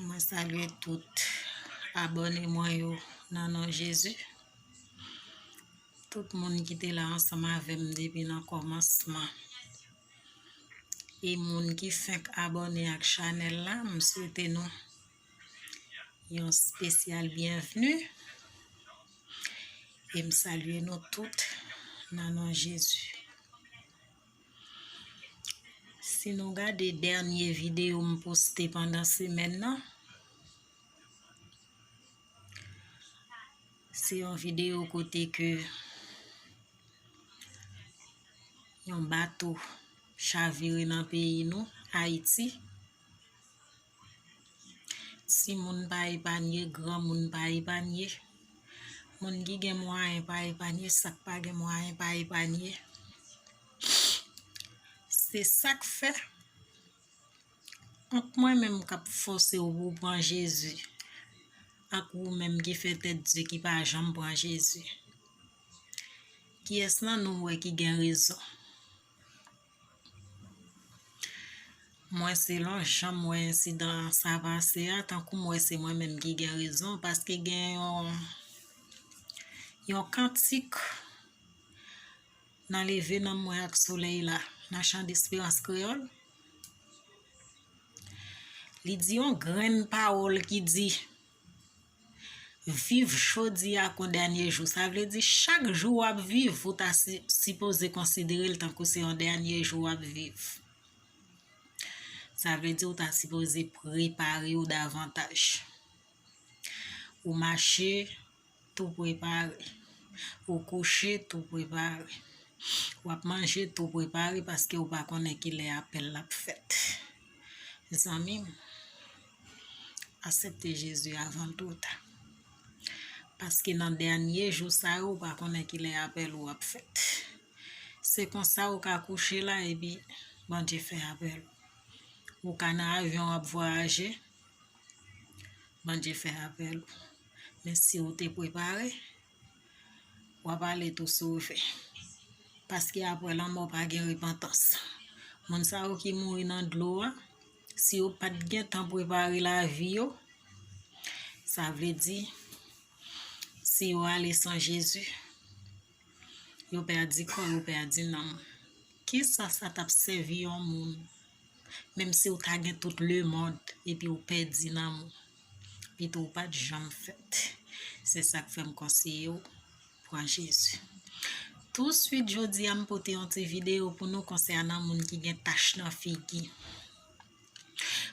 Mwen salye tout abone mwen yo nan nan Jezi. Tout moun ki te la ansanm avèm depi nan kòmansman. E moun ki fenk abone ak chanèl la, m swete nou. Yon spesyal byenvni e m salye nou tout nan non Jezi. Si nou gade dènye videyo m poste pandan semèn nan, se yon videyo kote ke yon bato chavire nan peyi nou, Ayiti. Si moun pa epanye, granmoun pa epanye. Moun ki gen mwayen pa epanye, sak pa gen mwayen pa epanye. Se sak fè, ant mwen menm kap fòse ou pou pran Jezi, ak ou menm ki fè tèt di ki pa janm pran Jezi. Kiyès nan nou wè ki gen rezon? Mwen selon janm wè ensidan sa pase a tankoum wè se mwen menm ki gen rezon paske gen yon kantik nan leve nanm mwen ak solèy la nan chan desperans kreyòl li di yon grenn pawòl ki di Viv jodi a kou dènye jou. Sa vle di chak jou w ap viv ou ta sipoze konsidere l tankou se yon dènye jou w ap viv. Sa vle di ou ta sipoze prepare ou davantaj. Ou mache. Tou prepare. Ou kouche tou prepare. Wap manje tou prepare paske ou pa konnen kilè apèl la ap fèt. Zanmim, asepte Jezi avan tout. Paske nan dènye jou sa yo ou pa konnen kilè apèl ou ap fèt. Se konsa ou ka kouche la epi Bondye fè apèl ou. Ou ka nan avyon wap vwayaje. Bondye fè apèl ou. Men si ou te prepare, w ap ale tou sove. Paske apre lanmò pa gen repantans. Moun sa yo ki mouri nan dlo a, si yo pa t gen tan prepare lavi yo, sa vle di, si yo ale san Jezi, Yo pèdi kò yo pèdi nanm. Kisa sa t ap sèvi yon moun menmsi w ta gen tout lemond epi w pèdi nanm ou? Pito w pa t janm fèt. Se sa k fè m konseye w pran Jezi. Tousuit jodi a m pote yon ti videyo pou nou konsènan moun ki gen tach nan figi.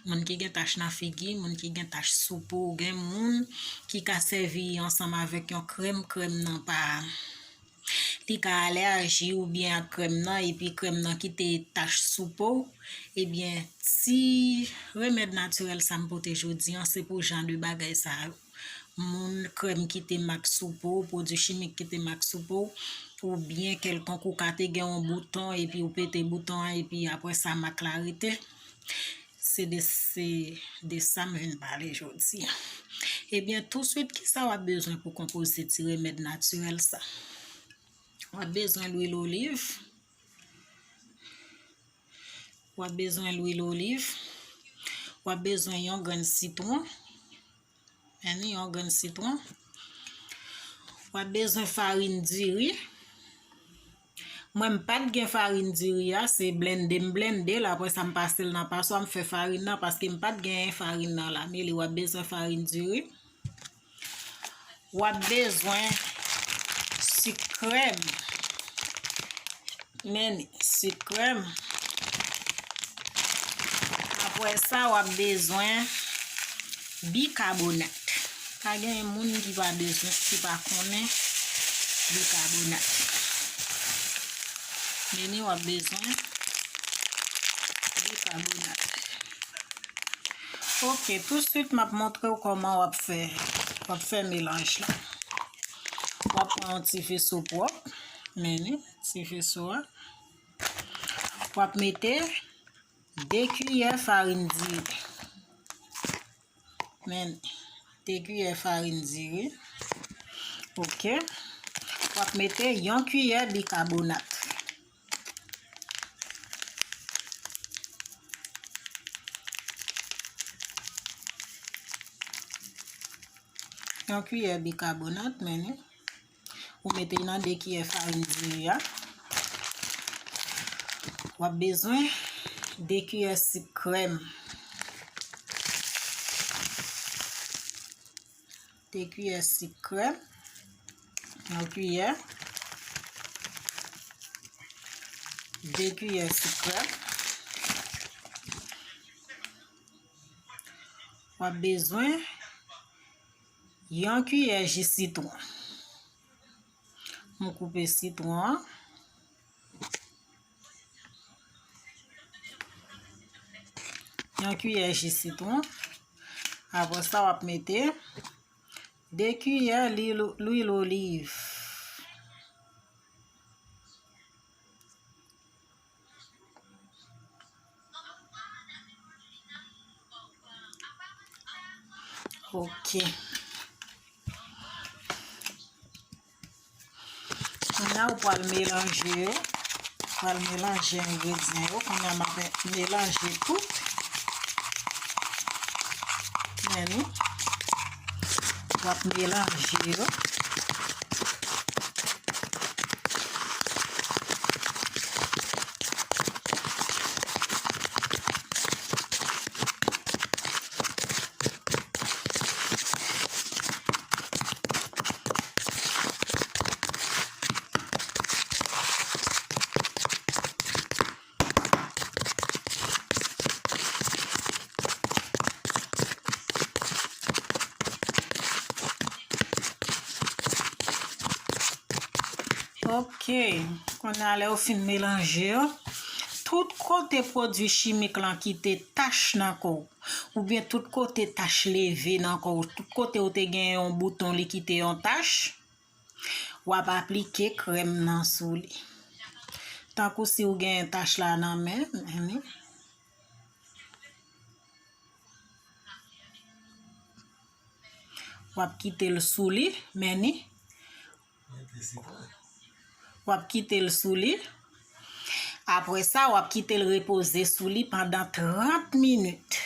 Moun ki gen tach nan figi, moun ki gen tach sou po, gen moun ki ka sèvi ansanm avèk yon krèm, krèm nan pa li ka alèaji ou byen ak krèm nan epi krèm nan kite tach sou po, ebyen ti remèd natirèl sa m pote jodi an se pou jan de bagay sa yo. moun, krèm kite mak sou po, pwodui chimik kite mak sou po, oubyen kèlkonk ou ka te gen yon bouton epi ou pete bouton an epi apre sa mak la rete. Se de se de sa m vin pale jodi a. Ebyen touswit ki sa w ap bezwen pou konpoze ti remèd natirèl sa? W ap bezwen lwil oliv. W ap bezwen lwil oliv. W ap bezwen yon grenn sitwon. Ann, yon grenn sitwon. W ap bezwen farin diri. Mwen m pa t gen farin diri a, se blennde m blennde l. Apre sa m pase l nan paswa m fè farin nan paske m pa t gen farin nan la. Meli w ap bezwen farin diri. Wap bezwen sik krèm. Men ni sik krèm. Apre sa wap bezwen bikabonat. Pa gen yon moun ki pa bezwen ki pa konnen bikabonat. Men ni wap bezwen bikabonat. Ok tout swit map montrew koman wap fè wap fè melanj la wap pran yon ti veso pwòp meni ti veso a wap mete 2 kiyè farin diri meni 2 kiyè farin diri ok wap mete yon kiyè bikabonat Yon kiyè bikabonat men nou. Ou mete nan 2 kiyè farin diri a. W ap bezwen 2 kiyè sik krèm. 2 kiyè sik krèm. 1 kiyè. 2 kiyè sik krèm. W ap bezwen yon kiyè ji sitwon. M koupe sitwon an. Yon kiyè ji sitwon. Apre sa wap mete 2 kiyè lwil oliv. Ok. Kounya ou pwal melanje yo, pwal melanje engredyan yo, kounya map melanje tout, men nou, wap melanje yo. Ok, konya lè ou fin melanje yo, tout kote pwodwi chimik lan kite Tach nan kò w. Ou gen tout kote tach leve nan kò w. Tout kote ou te gen yon bouton li kite yon tach, w ap aplike krèm nan sou li. Tankou si w gen tach la nan men, men ni. W ap kite l sou li, men ni. Wap kite l sou li. Apre sa wap kite l repoze sou li pandan 30 minit.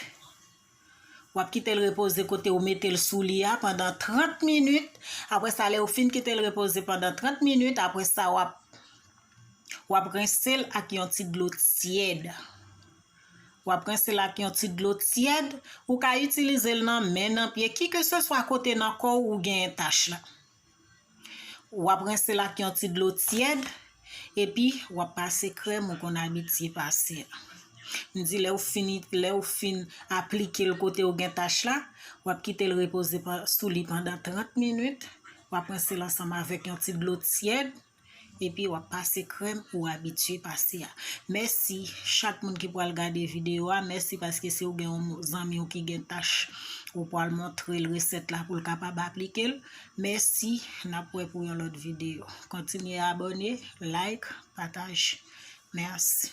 Wap kite l repoze kote ou mete l sou li a pandan 30 minit. Apre sa le ou fin kite l repoze pandan 30 minit. Apre sa wap rense l ak yon ti dlo tyèd. Wap rense l ak yon ti dlo tyèd. Ou ka itilize l nan men, nan pye, ki ke se swa kote nan kò ou ou gen tach la. W ap rense l ak yon ti dlo tyèd epi w ap pase krèm ou konn abitye pase a. M di lè ou fin aplike l kote ou gen tach la, w ap kite l repoze sou li pandan 30 minit. W ap rense l ansanm avèk yon ti dlo tyèd. Epi wap pase krèm ou abitye pase a. Mèsi chak moun ki pwal gade video a, mèsi paske si ou gen yon zanmi ou ki gen tach ou pwal montrel resèt la poul kapab aplikel. Mèsi nap wè pou yon lòt video. Kontinye abone, like, pataj. Mèsi.